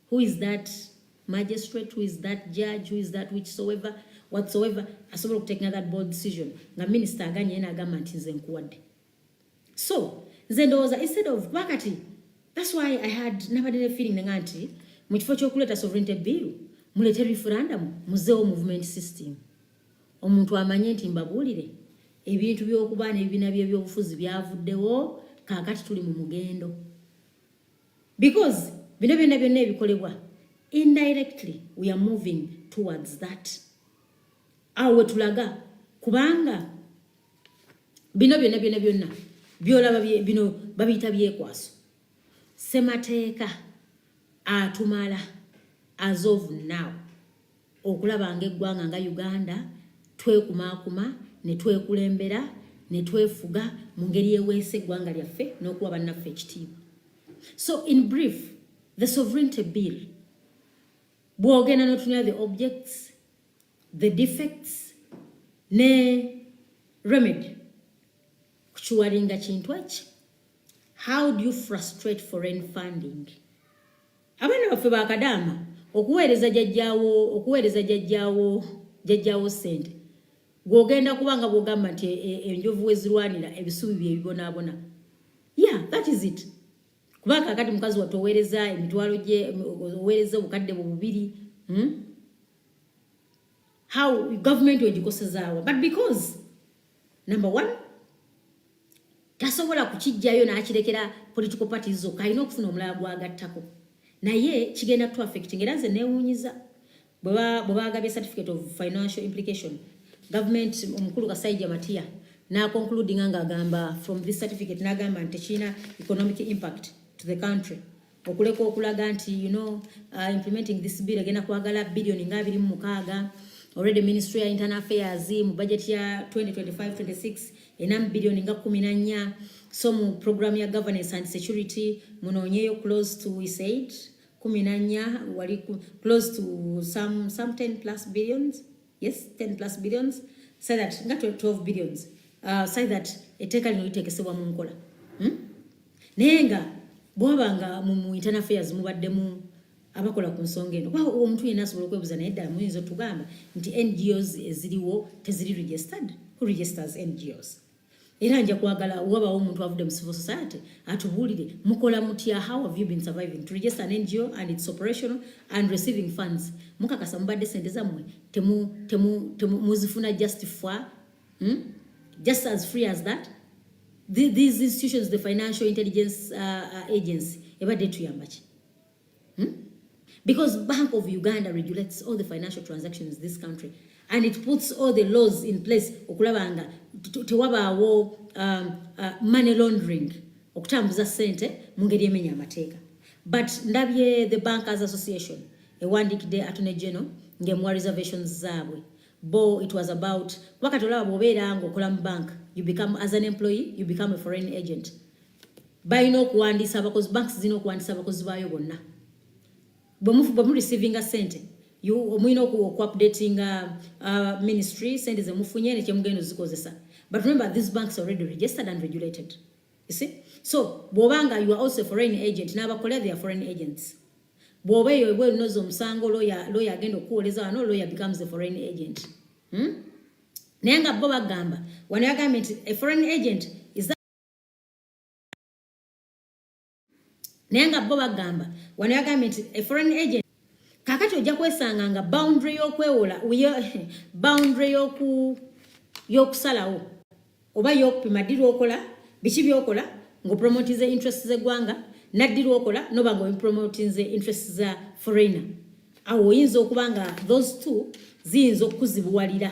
who is that magistrate who is that judge who is that whichsoever whatsoever asobola okutekinga that bold decision nga minister aganye yena agamba nti nze nkuwadde so nze ndowooza instead of kuba kati that's why i had nabadde ne feeling nga nti mu kifo ky'okuleeta sovereignty bill muleete referendum muzeewo movement system Omuntu amanye nti mbabuulire, ebintu by'okuba n'ebibiina by'ebyobufuzi byavuddewo, kaakati tuli mu mugendo. Because bino byonna byonna ebikolebwa, indirectly we are moving towards that. Awo we tulaga kubanga bino byonna byonna byonna byolaba bino babiyita byekwaso. Ssemateeka atumala as of now. okulaba ng'eggwanga nga uganda twekumaakuma ne twekulembera ne twefuga mu ngeri eweesa eggwanga lyaffe n'okuwa bannaffe ekitiibwa so in brief the sovereignty bill bw'ogenda n'otunula the objects the defects ne remedy kukiwalinga kintu eki how do you frustrate foreign funding Abaana baffe ba kadaama okuweereza jajjaawo okuweereza jajjaawo jajjaawo ssente gw'ogenda kuba nga bw'ogamba nti e, e, enjovu wezirwanira ebisubi bye bibonaabona ya that is it kuba kakati mukazi wattu oweereza emitwalo gye oweereza obukadde bwe bubiri hmm? how government ogikosezaawa but because number one tasobola kukijjayo n'akirekera political party zokka alina okufuna omulala gwagattako naye kigenda tu affect ngaera nze newunyiza bwe baagabye certificate of financial implication government omukulu kasaija matiya naconcludinga ngaagamba from this certificate nagamba nti tekirina economic impact to the country okuleka okulaga nti you know uh, implementing this bill egenda kwagala billion nga abiri mu mukaaga already ministry ya internal affairs mu budget ya 2025-26 ena mu billion nga kumi na nnya so mu program ya governance and security munoonyeyo close to we said kumi na nnya wali close to some, some 10 plus billions yes 10 plus billions say that nga 12 billions uh, say that eteeka lino litekesebwa mu nkola hmm? naye nga bwaba nga mu internal affairs mubaddemu abakola ku nsonga eno kuba omuntu yenna asobola okwebuza naye ddala muyinza otugamba nti ngos eziriwo teziri registered who registers ngos era nja kwagala wabawo omuntu avudde mu civil society atubuulire mukola mutya how have you been surviving to register an ngo and its operational and receiving funds mukakasa mubadde sente zammwe muzifuna just for hmm? just as free as that these institutions the financial intelligence uh, uh, agency ebadde tuyambaki Hmm? Because Bank of Uganda regulates all the financial transactions in this country and it puts all the laws in place okulaba nga tewabaawo um, uh, money laundering okutambuza sente mu ngeri emenya amateeka but ndabye the bankers association ewandiikidde attorney general ng'emuwa reservations zaabwe bo it was about kuba kati olaba bw'obeera ng'okola mu bank you become as an employee you become a foreign agent balina okuwandiisa abakozi banks zirina okuwandiisa abakozi baayo bonna bwe mu receivinga sente omulina okuupdatinga uh, ministry sente zemufunye nekyemugenda ozikozesa but remember these banks already registered and regulated you see so bwobanga you are also foreign agent nabakolera their foreign agents bwoba eyo ebwe lunoza omusango loya agenda okukuwoleza wano loya becomes a foreign agent hmm? naye nga bo bagamba wano yagambye nti a foreign agent naye nga bo bagamba wano yagambye nti a foreign agent kakati ojja kwesanga nga boundary y'okwewola boundary yoku y'okusalawo oba y'okupima ddi lwokola biki byokola ng'opromotinze interest z'eggwanga naddi lwokola noba nga opromotinze interest za foreigner awo oyinza okuba nga those two ziyinza okukuzibuwalira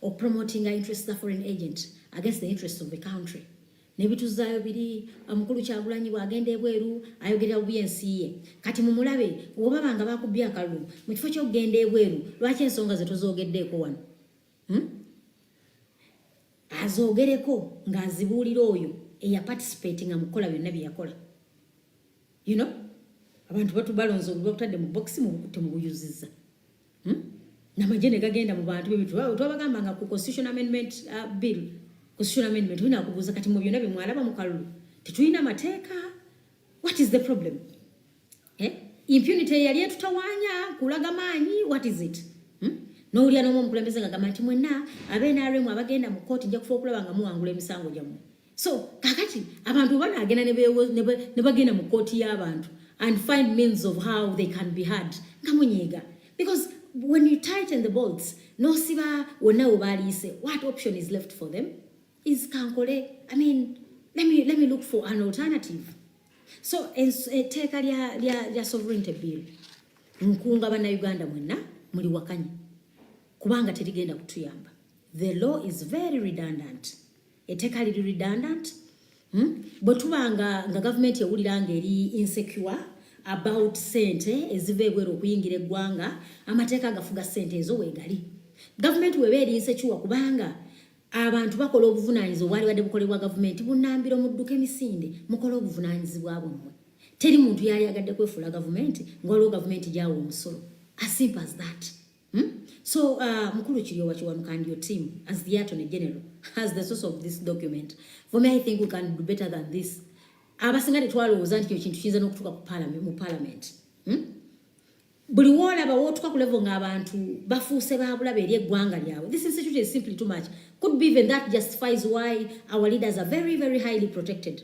or promoting our interests of foreign agent against the interests of the country nebituzaayo biri omukulu uh, kyagulanyi bwagenda ebweru ayogerera bubi ensi ye kati mumulabe oba banga bakubbi akalulu mu kifo kyokugenda ebweru lwaki ensonga ze tozogeddeeko wano hmm? azogereko ng'azibuulira oyo eyaparticipatinga mu kukola byonna bye yakola you know abantu batu balonze olubakutadde mu box mu bukutte mu buyuziza hmm? namaje ne gagenda mu bantu bebitu twabagamba nga ku constitution amendment uh, bill constitution amendment wina kubuza kati mu byona bimwalaba mu kalulu tetuyina mateeka what is the problem eh? impunity yali etutawanya kulaga maanyi what is it hmm? nowulira nomu omukulembeze nga gamba nti mwena abenaremu abagenda mu kooti nja kufa okulaba nga muwangula emisango gyammwe so kakati abantu obanagenda ne bagenda mu kooti y'abantu and find means of how they can be hard nga munyiiga because when you tighten the bolts nosiba wonna we baliise what option is left for them is kankole i mean let me, let me look for an alternative so etteeka lya sovereignty bill nkunga bannayuganda mwenna muli wakanya kubanga terigenda kutuyamba the law is very redundant eteeka liri redundant hmm? bwe tuba nga nga gavumenti ewulira nga eri insecure about sente eziva ebweru okuyingira eggwanga amateeka agafuga sente ezo weegali gavumenti weba eri insecure kubanga abantu bakola obuvunanyizi obwali badde bukolebwa gavumenti bunambiro mudduka emisinde mukola obuvunanyizibwa bwammwe teri muntu yali agadde kwefuula gavumenti nga waliwo gavumenti gyawa omusolo as simple as that Hmm? So uh, Mkulu Chiliowa Chiwanuka and your team as the Attorney General as the source of this document for me I think we can do better than this abasinga tetwalowooza nti kino kintu kiyinza n'okutuuka ku parliament mu parliament hmm? buli woolaba wootuka ku level ng'abantu bafuuse baabulaba eri eggwanga lyabwe this institute is simply too much could be even that justifies why our leaders are very very highly protected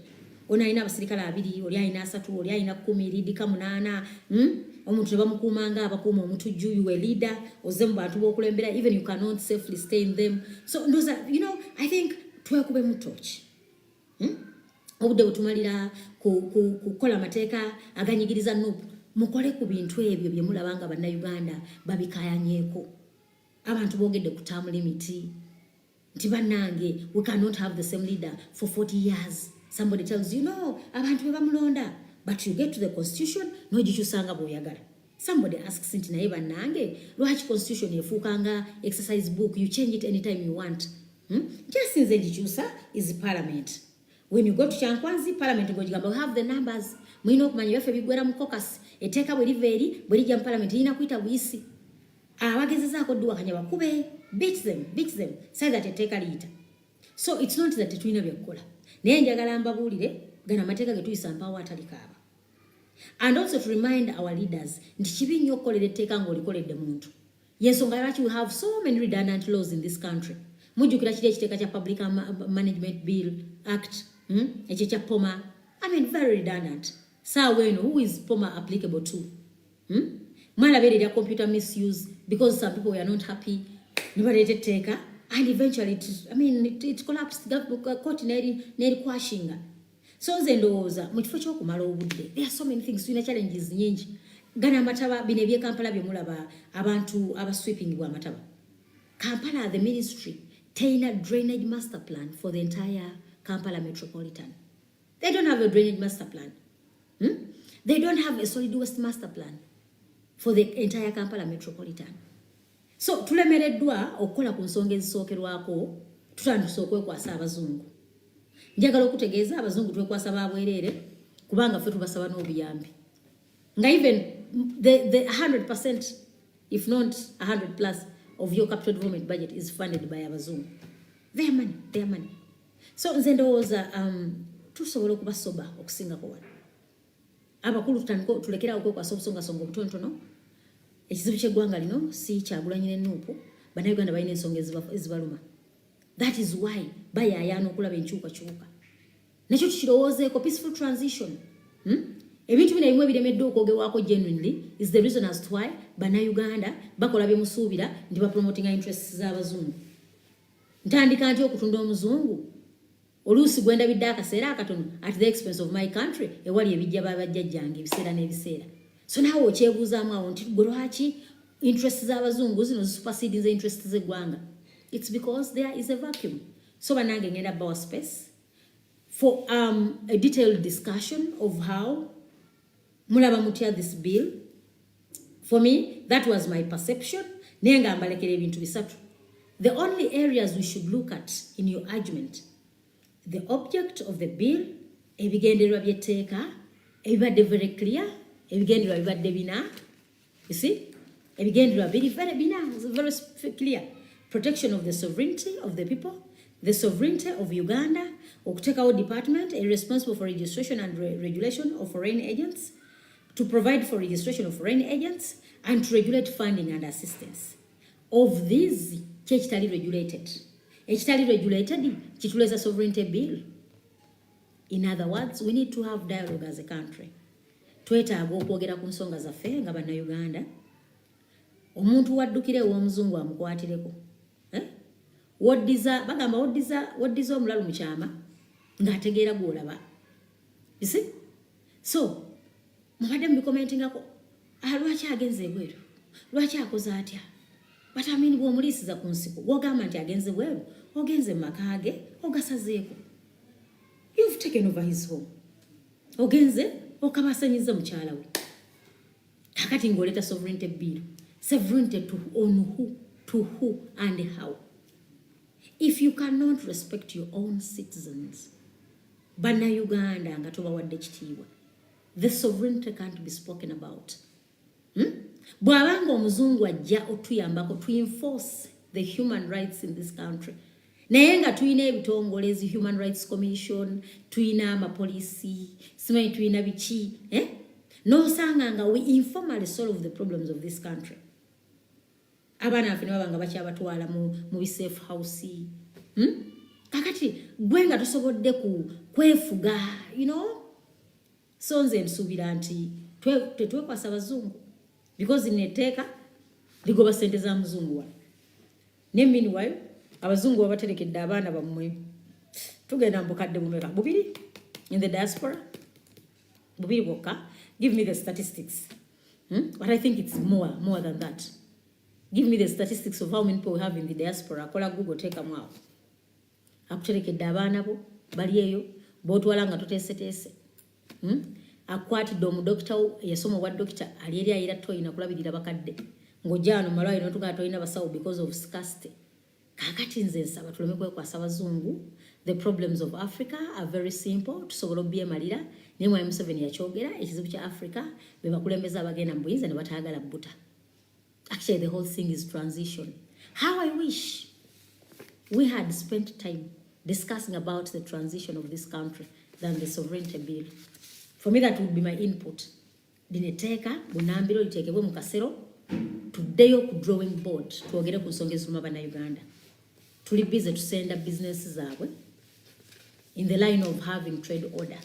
Ono alina abasirikale abiri, oli alina asatu, oli alina kkumi, liidika munaana. Hmm? Omuntu ne bamukuuma nga abakuuma omutujju, you a leader, ozze mu bantu b'okulembera, even you cannot safely stay in them. So ndoza, you know, I think twekube mu tooki. Hmm? Obudde butumalira kukola amateeka aganyigiriza nup mukole ku bintu ebyo bye mulaba nga bannayuganda babikayanyeeko. Abantu boogedde kutambula emiti. nti banange we cannot have the same leader for 40 years somebody tells you no abantu be bamulonda but you get to the constitution nogikyusanga bwoyagala somebody asks nti naye banange lwaki constitution efuukanga exercise book you change it anytime you want hmm? kyasinze ngikyusa is parliament when you go to kyankwanzi parliament ngogigamba we have the numbers mulina okumanya byaffe bigwera mu cocus eteeka bwe liva eri bwe lijja mu parliament lirina kuyita buyisi abagezezaako duwakanya bakube beat them beat them say that etteeka liyita so it's not that tetulina byakukola naye njagala mbabuulire gana amateeka getuyisa mpaawo atalikaaba and also to remind our leaders nti kibi nnyo okukolera etteeka ng'olikoledde muntu yensonga lwaki we have so many redundant laws in this country mujjukira kiri ekiteeka kya public management bill act hmm? ekyo kya poma i mean very redundant saawa eno who is poma applicable to hmm? mwala bere ya computer misuse because some people were not happy nibalete teka and eventually it, i mean it, it collapsed the court neri neri kwashinga so nze ndowooza mu kifo ky'okumala obudde there are so many things tulina challenges nyingi gana amataba bino ebyekampala byemulaba abantu abasweeping bwa amataba kampala the ministry teyina drainage master plan for the entire kampala metropolitan They don't have a drainage master plan. Hmm? They don't have a solid waste master plan for the entire Kampala metropolitan. So tulemereddwa okukola ku nsonga ezisookerwako tutandise okwekwasa abazungu. Njagala okutegeeza abazungu twekwasa ba bwereere kubanga ffe tubasaba n'obuyambi. Nga even the, the 100% if not 100 plus of your capital development budget is funded by abazungu. Their money, their money. so nze ndowooza um, tusobola okuba soba okusingako wano abakulu tutandika tulekerawo okwekwasa obusongasonga obutontono ekizibu kyeggwanga lino si kyagulanyi nenuupu bannayuganda balina ensonga ezibaluma that is why bayaayaana okulaba enkyukakyuka nakyo tukirowoozeeko peaceful transition hmm? ebintu bino ebimu ebiremeddwa okwogerwako genuinely is the reason as to why bannayuganda bakola byemusuubira nti bapromotinga interests z'abazungu ntandika ntya okutunda omuzungu oluusi gwendabidde akaseera akatono at the expense of my country ewali ebijja babajjajjange ebiseera n'ebiseera so naawe okyebuuzaamu awo nti gwe lwaki interest z'abazungu zino zisupasidinza interest z'eggwanga its because there is a vacuum so banange ngenda bawa space for um, a detailed discussion of how mulaba mutya this bill for me that was my perception naye nga mbalekera ebintu bisatu the only areas we should look at in your argument the object of the bill ebigendererwa byetteeka ebibadde very clear ebigendererwa bibadde bina You see? Ebigendererwa biri very bina very clear. Protection of the sovereignty of the people, the sovereignty of Uganda, okuteekawo department responsible for registration and re regulation of foreign agents, to provide for registration of foreign agents and to regulate funding and assistance. Of these, kyekitali regulated. Ekitali regulated kituleza sovereignty bill. In other words, we need to have dialogue as a country. Twetaaga okwogera ku nsonga zaffe nga bannayuganda. Omuntu waddukira ew'omuzungu amukwatireko. Eh? Woddiza, bagamba woddiza, woddiza omulalu mu kyama ng'ategeera gw'olaba. You see? so mubadde mubikomentingako ah, lwaki agenze ebweru lwaki akoze atya batamini bwomuliisiza ku nsiko gwogamba nti agenze bweru ogenze mu maka ge ogasazeeko you've taken over his home ogenze okabasanyiza mukyala we kakati ngaoleta sovereignty bill sovereignty to on who to who and how if you cannot respect your own citizens bannayuganda nga tobawadde kitiibwa the sovereignty can't be spoken about hmm? bw'aba nga omuzungu ajja otuyambako to enforce the human rights in this country naye nga tulina ebitongole ezi human rights commission tulina amapolisi simanyi tulina biki eh? nosanga nga we informally solve the problems of this country abaana baffe nebaba nga bakyabatwala mu bisafe house hmm? kakati gwe nga tosobodde ku kwefuga you know so nze nsuubira nti tetwekwasa bazungu because neteeka ligoba sente za muzungu wa ne meanwhile abazungu babaterekedde abaana bammwe tugenda mubukadde bumeka bubiri in the diaspora bubiri bwokka give me the statistics hmm? but i think it's more more than that give me the statistics of how many people we have in the diaspora akola google teekamu awo akuterekedde abaana bo bali eyo botwala nga toteeseteese hmm? akwatidde omudokita wo eyasoma obwa dokita ali eri ayera toyina kulabirira bakadde ng'ojja wano malwaliro notugaa tolina basawo because of scarcity kakati nze nsaba tuleme kwekwasa bazungu the problems of africa are very simple tusobola obyemalira naye mwami museveni yakyogera ekizibu kya africa bebakulembeza abagenda mu buyinza ne batayagala buta actually the whole thing is transition how i wish we had spent time discussing about the transition of this country than the sovereignty bill for me that would be my input lino etteeka bunambiro liteekebwe mu kasero tuddeyo ku drawing board twogere ku nsonga eziruma bannayuganda tuli bize tusenda bizinesi zaabwe in the line of having trade order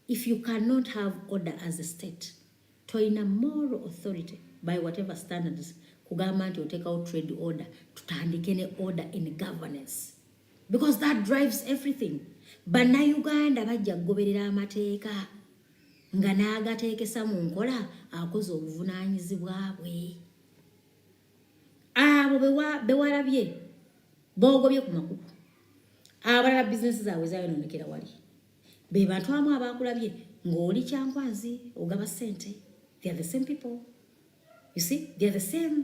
if you cannot have order as a state toyina moral authority by whatever standards kugamba nti oteekawo trade order tutandike ne order in governance because that drives everything bannayuganda bajja kugoberera amateeka nga n'agateekesa mu nkola akoze obuvunaanyizibwa bwe abo bewalabye boogobye ku makuku abalala bizinesi zaabwe zayonoonekera wali be bantu amu abaakulabye ng'oli kyankwanzi ogaba ssente they are the same people you see they are the same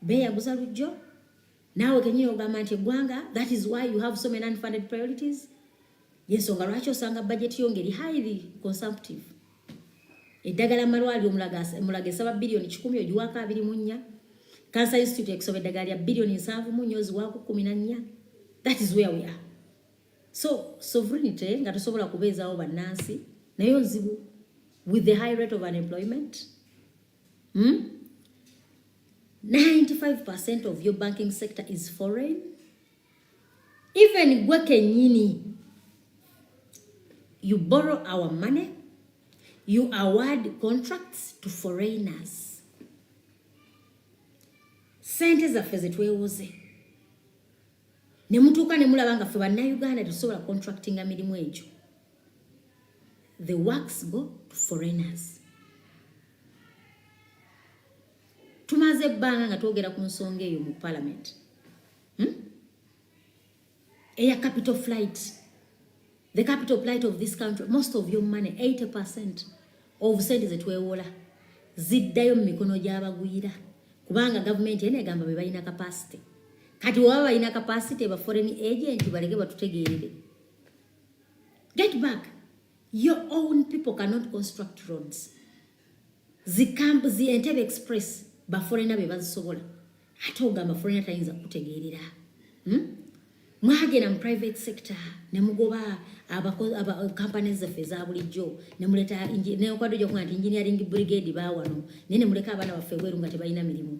beeyaguza lujjo naawe kenyini ogamba nti eggwanga that is why you have so many unfunded priorities yensonga lwaki osanga bajeti yo ngeri highly consumptive eddagala malwaliro mulaga esaba biliyoni kikumi ogiwaako abiri mu nnya cancer institute ekusaba eddagala lya biliyoni nsanvu mu nnya oziwaako kumi na nnya that is where we are so sovereignty nga tosobola kubeezawo bannansi naye ozibu with the high rate of unemployment Hmm? 95% of your banking sector is foreign. Even gwe kenyini, you borrow our money, you award contracts to foreigners. sente zaffe zetwewoze nemutuuka nemulaba nga ffe bannayuganda tetusobola contractinga mirimu egyo the works go to foreigners tumaze ebbanga nga twogera ku nsonga eyo mu parliament hmm? eya capital flight the capital flight of this country most of your money 80 percent of sente zetwewola ziddayo mu mikono gy'abagwira kubanga gavumenti ena egamba be balina kapasite kati waba balina kapasite ba foreign agent baleke batutegeerere Get back. Your own people cannot construct roads. Zikambu zi Entebbe Express ba foreigner be bazisobola. Ate ogamba foreigner tayinza kutegeerera. Hmm? Mwagera mu private sector ne mugoba abakozi aba companies zaffe eza bulijjo ne muleta ne okwadde gyokuba nti engineering brigade baawano naye ne muleka abaana baffe ebweru nga tebalina mirimu.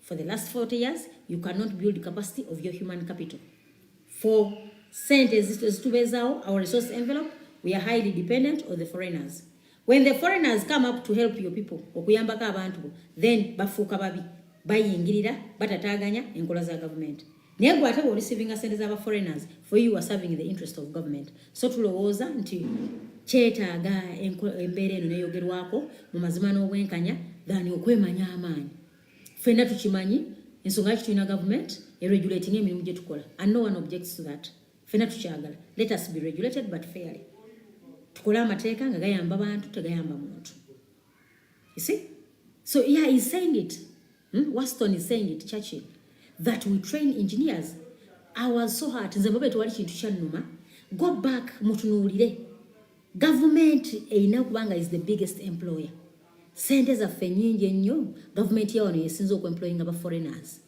for the last 40 years you cannot build capacity of your human capital for sente ezitubezawo our resource envelope we are highly dependent on the foreigners when the foreigners come up to help your people okuyambako abantu then bafuuka babi bayingirira batataganya enkola za gavumenti naye gwe ate bwe olisivinga sente z'aba foreigners for you are serving the interest of government so tulowooza nti kyetaaga embeera eno neyogerwako mu mazima n'obwenkanya gani okwemanya amaanyi fenna tukimanyi ensonga yaki tulina government eregulating emirimu gye tukola and no one objects to that fenna tukyagala let us be regulated but fairly tukole amateeka nga gayamba bantu tegayamba muntu you see so yeah he's saying it Hmm? Waston is saying it Churchill that we train engineers I was so hurt nze bobe tewali kintu kyannuma go back mutunuulire gavumenti erina kubanga is the biggest employer sente zaffe nyingi ennyo gavumenti yawano yesinza okuemployinga ba foreigners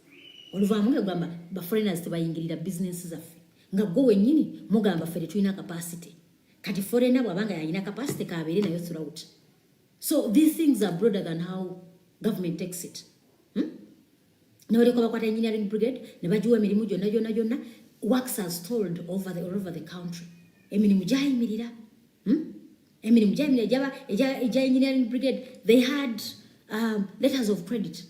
oluvaamu nga gamba ba foreigners tebayingirira business zaffe nga gwe wennyini mugamba ffe tetulina capacity kati foreigner bwabanga yalina capacity kabeere nayo throughout so these things are broader than how government takes it hmm? nebalyoka bakwata engineering brigade nebagiwa emirimu gyonna gyonna gyonna works are stalled over the, all over the country emirimu gyayimirira hmm? emirimu gyayimirira egya engineering brigade they had um, letters of credit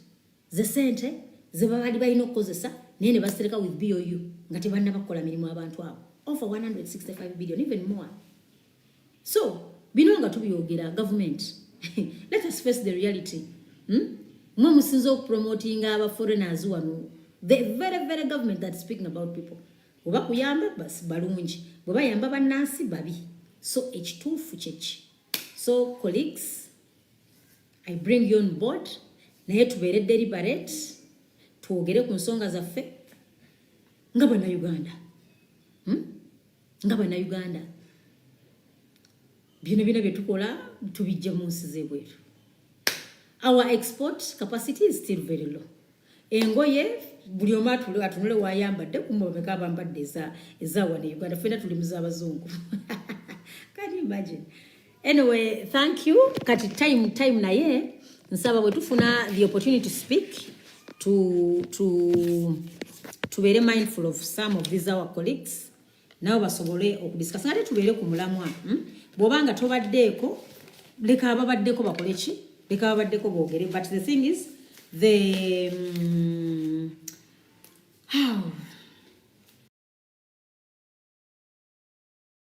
ze sente zebabali balina okukozesa naye ne basereka with bou nga tebanna bakukola mirimu abantu abo over 165 billion even more so bino nga tubyogera government let us face the reality hmm? mwe musinza okupromotinga aba foreigners wano the very very government that speaking about people oba kuyamba basi balungi bwe bayamba bannansi babi so ekituufu kyeki so colleagues i bring you on board naye tubeere deliberate twogere ku nsonga zaffe nga banauganda hmm? nga bannayuganda byona byona bye tukola tubijja mu nsi z'ebweru our export capacity is still very low engoye buli omu atunule wayambadde kumabeka abambadde ezawana e uganda fena tuli muzabazungu can you imagine Anyway, thank you. Kati time time na ye nsaba bwe tufuna the opportunity to speak to to to be mindful of some of these our colleagues nabo basobole okudiscuss ngate tubeere ku mulamwa hmm? bwoba nga tobaddeeko leka ababaddeko bakole ki leka ababaddeko boogere but the thing is the um, how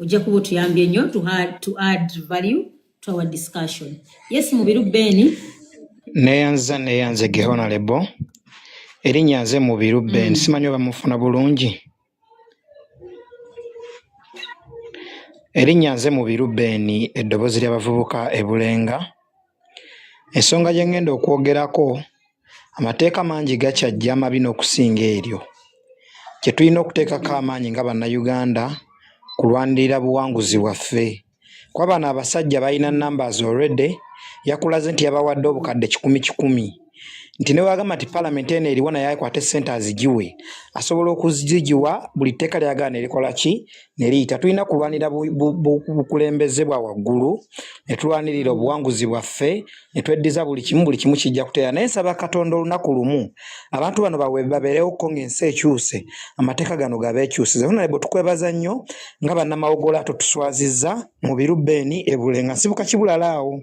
ojja kuba otuyambye nnyo to add, to add value to our discussion yes mubiru beni neyanza neyanze gehona lebo erinnya nze mubiru ben mm. simanyi oba mufuna bulungi erinnya nze mubiru ben eddoboozi ly'abavubuka ebulenga Ensonga gye ngenda okwogerako amateeka mangi gakyajja amabi n'okusinga eryo. Kye tulina okuteekako amaanyi nga Bannayuganda kulwanirira buwanguzi bwaffe. Kuba bano abasajja balina numbers already, yakulaze nti yabawadde obukadde kikumi kikumi. nti ne wagamba nti palamenti eno eriwo naye akwate sente azigiwe asobola okuzigiwa buli tteeka lyagaana erikola ki ne liyita tulina kulwanira bukulembeze bwa waggulu ne tulwanirira obuwanguzi bwaffe ne tweddiza buli kimu buli kimu kijja kuteera naye nsaba katonda olunaku lumu abantu bano babeerewo ko ng'ensi ekyuse amateeka gano gabeekyusize ona ne bwe tukwebaza nnyo nga bannamawogola totuswaziza mu birubeeni ebule nga nsibuka kibulala awo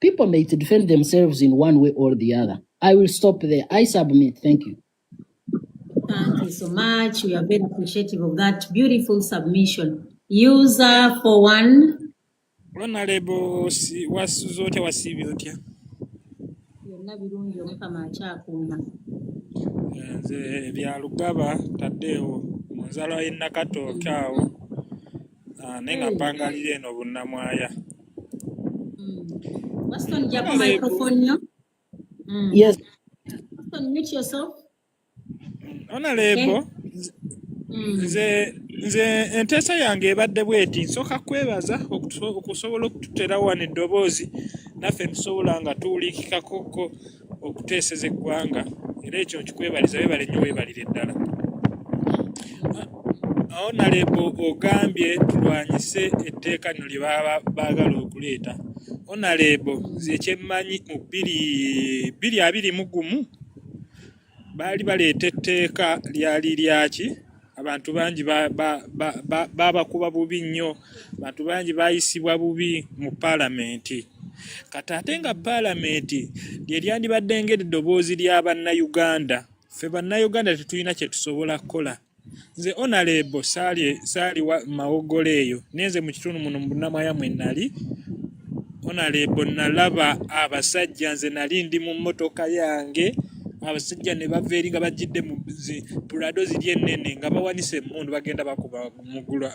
People may defend themselves in one way or the other. I will stop there. I submit. Thank you. Thank you so much. We are very appreciative of that beautiful submission. User for one. Honorable wasuza otya wasiibye otya? Byonna birungi omukama akyakuuma. Nze bya Lugaba taddeewo mu nzalwa y'e Nakatooke awo. Ah, naye nga mpangalira eno bunnamwaya Waston hmm. jjako microphone yo hmm. yes Waston mute yourself ona leebo hmm. nze nze enteesa yange ebadde bweti nsooka kwebaza okusobola okututera wano eddoboozi naffe tusobola nga tuwulikikakoko okuteeseza eggwanga era ekyo nkikwebaliza webale nnyo webalire ddala onalebo ogambye tulwanyise etteeka lino lye baba baagala okuleeta onalebo nze kyemmanyi mu bbiri bbiri abiri mu gumu baali baleeta etteeka lyali lyaki abantu bangi baabakuba bubi nnyo abantu bangi baayisibwa bubi mu paalamenti kati ate nga paalamenti lye lyandibadde ng'eddoboozi lya bannayuganda ffe bannayuganda tetulina kye tusobola kukola nze onalebo saali wa mawogolo eyo naye nze mu kitundu muno mu bunamwaya mwe nali onalebo nalaba abasajja nze nali ndi mu mmotoka yange abasajja ne bava eri nga bajjidde mu pulado ziri ennene nga bawanise emmundu bagenda bakuba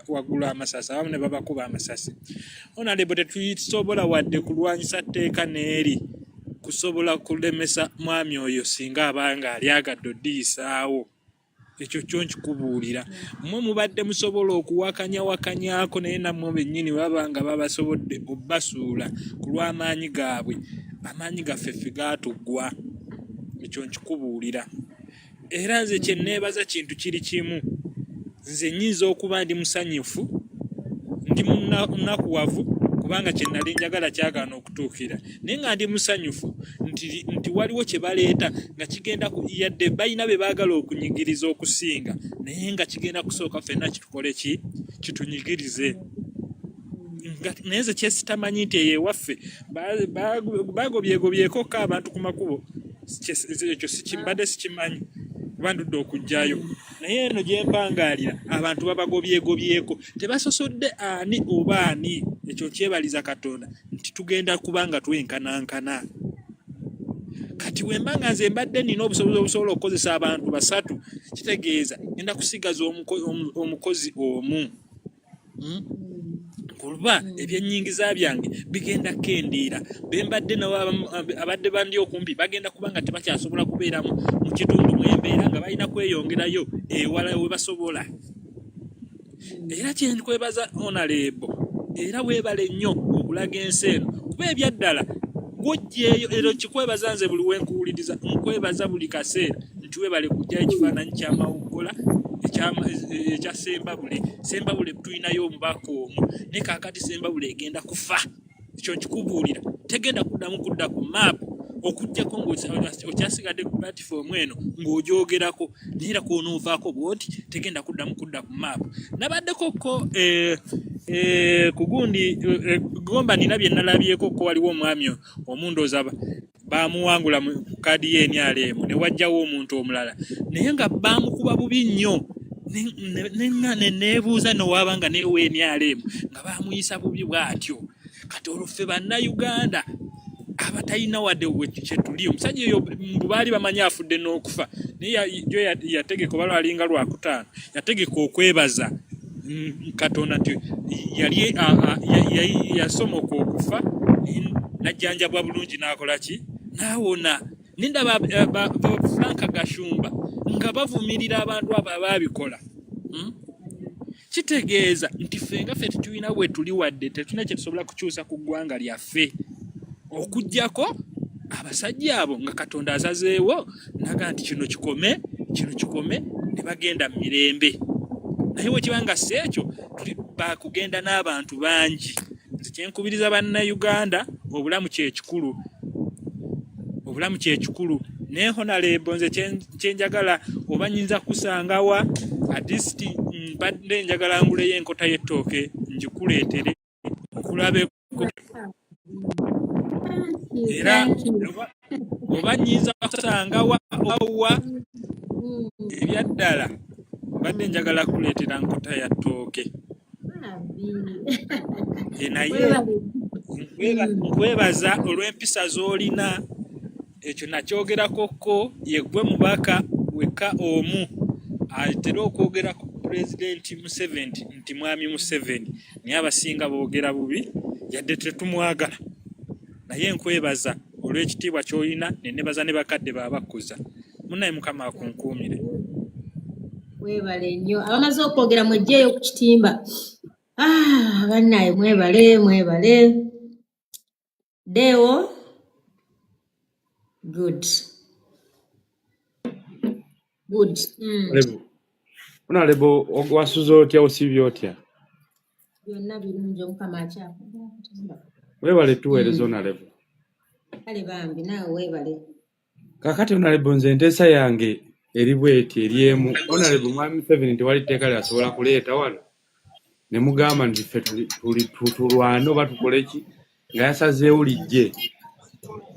waggulu amasasi abamu ne babakuba amasasi onalebo tetusobola wadde kulwanyisa tteeka n'eri kusobola kulemesa mwami oyo singa abanga alyagadde odiyisaawo ekyo kyo nkikubuulira mmwe mubadde musobola okuwakanyawakanyako naye nammwe bennyini baba nga babasobodde obbasuula ku lw'amaanyi gaabwe amaanyi gaffe ffe gaatuggwa ekyo nkikubuulira era nze kye nneebaza kintu kiri kimu nze nyinza okuba ndi musanyufu ndi munakuwavu kubanga kye nali njagala kyagaana tuukira naye nga ndi musanyufu nti, nti waliwo kye baleeta nga kigenda yadde balina be baagala okunyigiriza okusinga naye nga kigenda kusooka fenna kitukole ki kitunyigirize naye nze kyesitamanyi nti eyo ewaffe baagobyegobyekokka abantu ku makubo ekyo sikimbadde sikimanyi kuba ndudde okugjayo naye eno gyempangaalira abantu babagobyegobyeko tebasosodde ani oba ani ekyo kyebaliza katonda nti tugenda kuba nga twenkanankana kati wemba nga nze mbadde nina obusobozi obusobola okukozesa abantu basatu kitegeeza enda kusigaza omukozi omu hmm? kuba ebyenyingiza byange bigenda kendiira bembadde nabo abadde bandi okumpi bagenda kuba nga tebakyasobola kubeeramu mu kitundu mwembeera nga balina kweyongerayo ewala webasobola era kyenkwebaza onaleebo era weebale nnyo okulaga ensi eno kuba ebyaddala gwojjeeyo era okikwebaza nze buli wenkuwuliriza nkwebaza buli kaseera nti weebale kujjayo ekifaananyi kyamawuggola ekya sembabule sembabule tulinayo omubaka omu ne kakati sembabule egenda kufa ekyo nkikubuulira tegenda kuddamu kudda ku maapu okujjako ngaokyasigadde ku platifoomu eno ng'ogyogerako naye era kwonoovaako bwoti tegenda kuddamu kudda ku maapu nabaddeko ko eh, eh, kugundi eh, gomba nina bye nalabyeko ko waliwo omwami omundozaba baamuwangula mu kaadi ye NRM ne wajjawo omuntu omulala naye nga baamukuba bubi nnyo nebuuza nowaba nga newa NRM nga baamuyisa bubi bwatyo kati olwo ffe bannayuganda abatalina wadde kyetuli omusajja oyo mbu baali bamanyi afudde n'okufa naye jo yategeka oba lwalinga lwakutaano yategeka okwebaza mm, katonda nti yali yasomoka okufa najjanjabwa bulungi n'akola ki n'awona nindaba eh, frank gashumba nga bavumirira abantu abo abaabikola hmm? kitegeeza nti ffe nga ffe tetulina we tuli wadde tetulina kye tusobola kukyusa ku ggwanga lyaffe okugyako abasajja abo nga katonda azazeewo naga nti kino kikome kino kikome ne bagenda mu mirembe naye wekiba nga si ekyo tuli bakugenda n'abantu bangi nze kyenkubiriza bannayuganda obulamu kyekikulu obulamu kyekikulu naye honalebo nze kyenjagala oba nyinza kusangawa adisiti mbadde njagala nguleyo enkota y'ettooke ngikuleetere okulabe era oba nyinza kusangawa obawa mm. ebyaddala mbadde njagala kuleetera nkota ya ttooke eh, naye nkwebaza olw'empisa z'olina ekyo nakyogerako ko yegwe mubaka wekka omu atera okwogera ku pulezidenti museveni nti mwami museveni naye abasinga boogera bubi yadde tetumwagala naye nkwebaza olw'ekitiibwa kyolina nenebaza ne bakadde babakkuza munaye mukama akunkuumire webale nnyo abamaze okwogera mwejjeeyo ku kitimba ah, bannaye mwebale mwebale Deo, good. Good. Mm. Lebo. Una lebo wasuza otya osibye otya? Byonna birungi omukama akyakuba. Weebale tuweereza mm. ona lebo. Kale bambi naawe weebale. kakati onalebo nze enteesa yange eri bweti eri emu onalebo mwami museveni nti wali tteeka lyasobola kuleeta wano ne mugamba nti ffe tulwane oba tukole ki nga yasazeewo lijje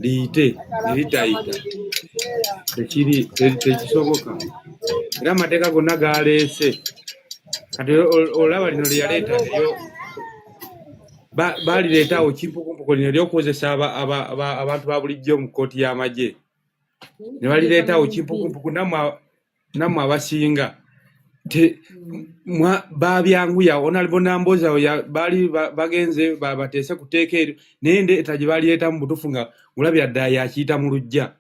liyite eritayita tekiri tekisoboka era amateeka gonna galeese kati olaba lino lyeyaleeta eyo Ba- baalireetawo kimpukumpuku lino ery'okuwozesa aba- aba- aba- abantu ba bulijjo mu kkooti y'amagye ne balireetawo kimpukumpuku nammwe a- nammwe abasinga te mwa baabyanguya onalibo namboozi awo ya- baali ba- bagenze ba- bateese ku tteeka eryo naye ndeeta gye baalireetamu butuufu nga olabira ddala yakiyita mu luggya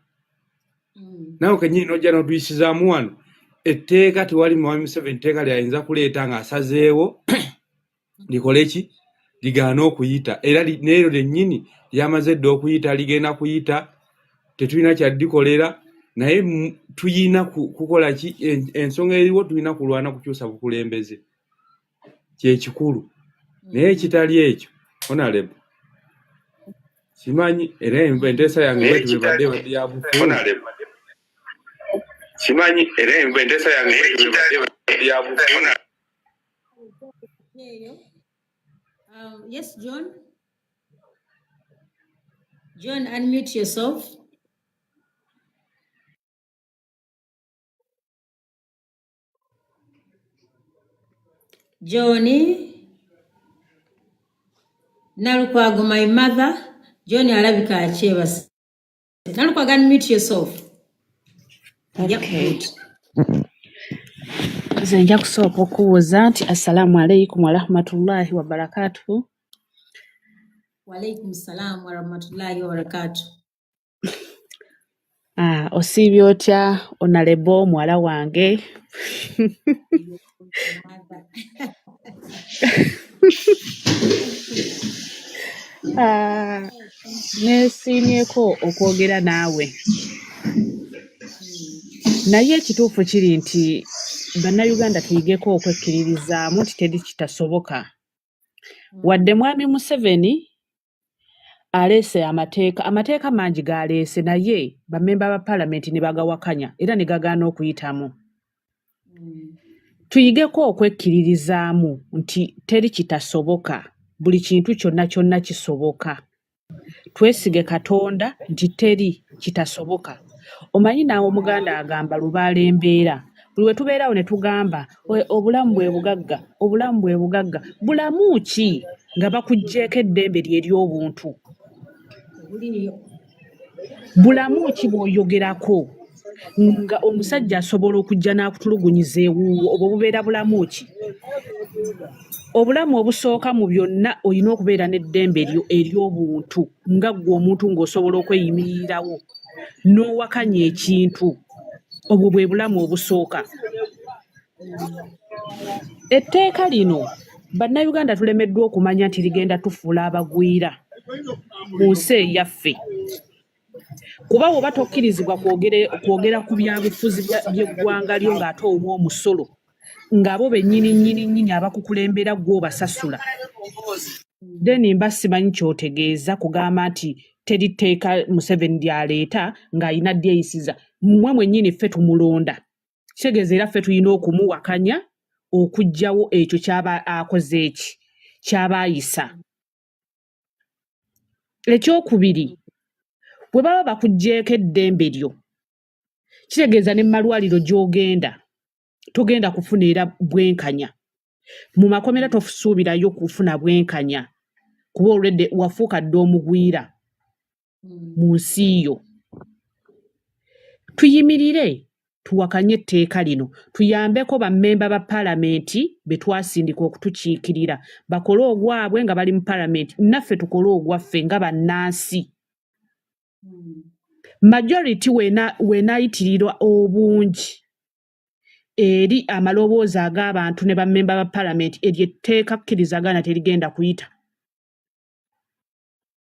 nawe kenyini nojja notuyisizaamu wano etteeka tewali mwami museveni tteeka lyayinza kuleeta ng'asazeewo likole ki ligaana okuyita era neeryo lyennyini lyamaze dda okuyita ligenda kuyita tetulina kyaddikolera naye tuyina kukola ki ensonga eriwo tulina kulwana kukyusa bukulembeze kyekikulu naye ekitali ekyo onalebo simanyi era enteesa yange bwetubebadde badde yabufu simanyi era enteesa yange bwetubebadde badde yabufu Um, yes, John. John, unmute yourself. Johnny Nalukwago, my mother. John alabika akyebase. Nalukwago, unmute yourself. Okay. Nze nja kusooka okubuuza nti assalaamu alaikum warahmatullahi wabarakatuhu. Walaikum salaam warahmatullahi wabarakatuhu. Ah, osiibye otya onalebo muwala wange? Ah, neesiimyeko okwogera naawe naye ekituufu kiri nti bannayuganda tuyigeko okwekkiririzaamu nti teri kitasoboka wadde mwami museveni aleese amateeka amateeka mangi galeese naye bamemba ba palamenti ne bagawakanya era ne gagaana okuyitamu tuyigeko okwekkiririzaamu nti teri kitasoboka buli kintu kyonna kyonna kisoboka twesige katonda nti teri kitasoboka omanyi naawe omuganda agamba lubaala embeera buli we tubeerawo ne tugamba We- obulamu bwe bugagga obulamu bwe bugagga bulamu ki nga bakuggyeko eddembe lye ery'obuntu bulamu ki bw'oyogerako nga omusajja asobola okujja n'akutulugunyiza ewuwo obwo bubeera bulamu ki obulamu obusooka mu byonna olina okubeera n'eddembe eryo ery'obuntu nga ggwe omuntu ng'osobola okweyimiririrawo n'owakanya ekintu obwo bwe bulamu obusooka etteeka lino bannayuganda tulemeddwa okumanya nti ligenda tufuula abagwira mu nsi eyaffe kuba woba tokkirizibwa kwogera ku byabufuzi by'eggwanga lyo ng'ate owa omusolo ngabo benyini nyini nyini abakukulembera gwo basasula then mba simanyi kyotegeeza kugamba nti teri tteeka museveni lyaleeta ng'alina lyeyisiza mmwe mwennyini ffe tumulonda kitegeeza era ffe tulina okumuwakanya okugyawo ekyo kyaba akoze eki kyaba ayisa ekyokubiri bwe baba bakuggyeko eddembe lyo kitegeeza ne mumalwaliro gyogenda togenda kufuna era bwenkanya mu makomera tosuubirayo kufuna bwenkanya kuba olwedde wafuuka dda omugwira hmm. mu nsi yo tuyimirire tuwakanye etteeka lino tuyambeko bammemba ba palamenti be twasindika okutukiikirira bakole ogwabwe nga bali mu palamenti naffe tukole ogwaffe nga bannansi majority wenaayitirirwa obungi eri amaloboozi ag'abantu ne bammemba ba palamenti eryo etteeka kkirizagana terigenda kuyita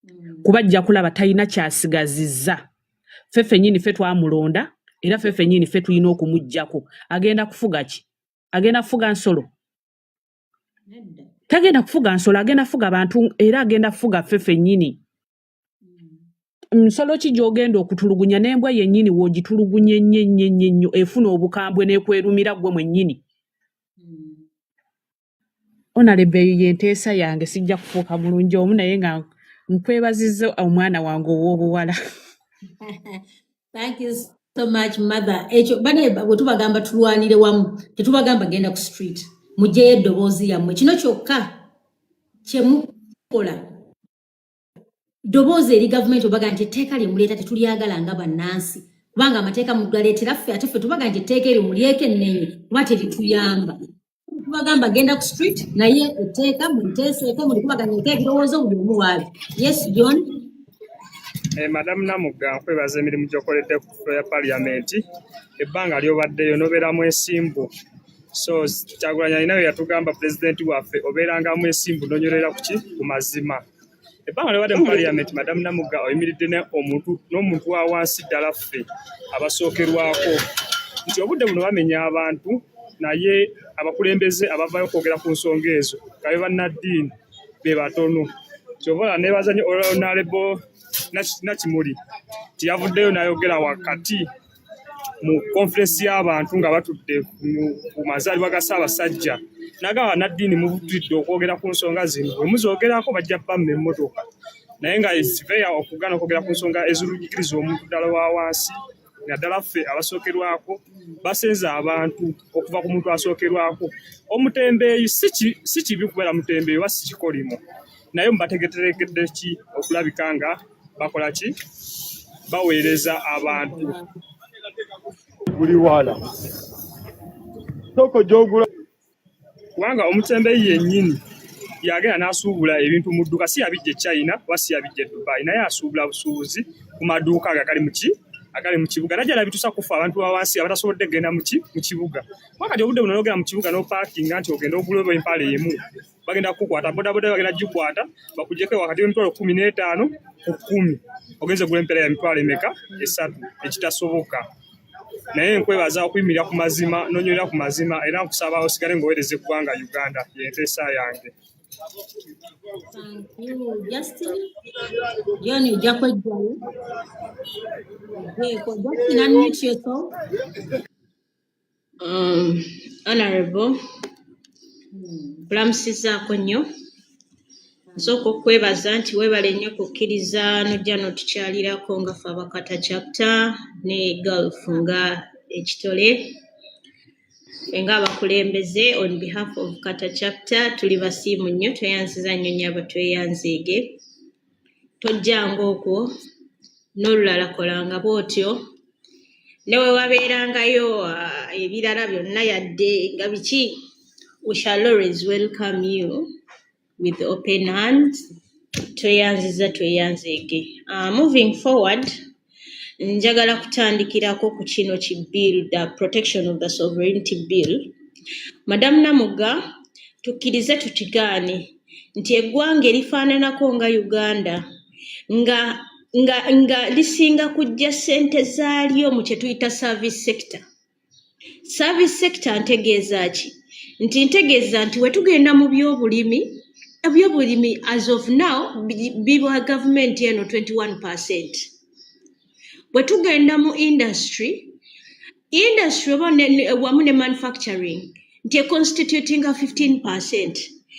mm. kuba ajja kulaba talina kyasigazizza ffe fenyini ffe twamulonda era ffe fenyini ffe tulina okumugjako agenda kufuga ki agenda kufuga nsolo tagenda kufuga nsolo agenda kufuga bantu era agenda kufuga ffe fenyini nsolo ki gy'ogenda okutulugunya n'embwa yennyini w'ogitulugunye nnyo nnyo nnyo nnyo efuna obukambwe n'ekwerumira ggwe mwennyini onalebe eyo y'enteesa yange sijja kufuuka mulungi omu naye nga nkwebaziza omwana wange ow'obuwala so much mother ekyo bane bwe tubagamba tulwanire wamu tetubagamba genda ku street mugyeyo eddoboozi yammwe kino kyokka kyemukola ddoboozi eri gavumenti obaga nti etteeka lye muleeta tetulyagala nga bannansi kubanga amateeka mugaleetera ffe ate ffe tubaga nti etteeka eryo mulyeko ennenye kuba terituyamba tubagamba genda ku street naye etteeka muliteeseeko mulikubaganya eka ebirowoozo buli omu waabi yes john Eh, madamu namugga nkwebaza emirimu gyokoledde ku flo ya paliyamenti ebbanga lyobaddeyo nobeera mwesimbu so kyagulanyi alina bye yatugamba pulezidenti waffe obeeranga mwesimbu nonyolera kuki ku mazima ebbanga lyobadde mu parliament madamu namugga oyimiridde omuntu n'omuntu wa wansi ddala ffe abasookerwako nti obudde buno bamenya abantu naye abakulembeze abavayo okwogera ku nsonga ezo kabe bannaddiini be batono kyova nebaza nyo olonalebo nakimuli tiyavuddeyo nayogera wakati mu conference y'abantu nga batudde ku mazaalibwa ga Ssaabasajja nagamba naddiini mubutudde okwogera ku nsonga zino bwe muzoogerako bajja bamma emmotoka naye nga siveya okugaana okwogera ku nsonga ezirujikiriza omuntu ddala wa wansi naddala ffe abasookerwako basenza abantu okuva ku muntu asookerwako omutembeeyi si kibi kubeera mutembeeyi oba si kikolimo naye mubategeteregedde ki okulabika nga bakola ki baweereza abantu buli wala soko gyogula kubanga omutembeyi yennyini yagenda n'asuubula ebintu mu dduuka si yabijja e china oba si yabijja e dubai naye asuubula busuubuzi ku maduuka ago agali muki agali mu kibuga najja nabitusa kufa abantu bawansi abatasobodde kugenda muki mu kibuga wakati obudde buno nogenda mu kibuga nopaakinga nti ogenda ogula oba empaala emu bagenda kukukwata bodaboda bagenda gikwata bakujeko wakati w'emitwalo kumi n'etaano ku kumi ogenze gula empeera ya mitwalo emeka esatu ekitasoboka naye nkwebaza okuyimirira ku mazima nonywerera ku mazima era nkusaba osigale ngaowereza eggwanga uganda yenteesa yange Um, honorable kulamusizaako nnyo nsooka okukwebaza nti weebale nnyo kukkiriza nojja n'otukyalirako nga fe abakata chapta ne golf nga ekitole fe nga abakulembeze on behalf of kata chapta tuli basiimu nnyo tweyanziza nnyo nnyo abatweyanzeege tojjanga okwo n'olulala kolanga bw'otyo ne we wabeerangayo ah, ebirala byonna yadde nga biki we shall always welcome you with open hands tweyanziza tweyanzeege uh, moving forward Njagala kutandikirako ku kino ki bill the protection of the sovereignty bill. Madamu Namugga, tukkirize tukigaane nti eggwanga erifaananako nga Uganda nga nga nga lisinga kujja ssente zaalyo mu kye tuyita service sector. service sector ntegeeza ki nti ntegeeza nti wetugenda mu byobulimi ebyobulimi as of now bibwa gavumenti eno 21 percent bwetugenda mu industry industry oba wamu ne manufacturing nti econstitutinga 15 percent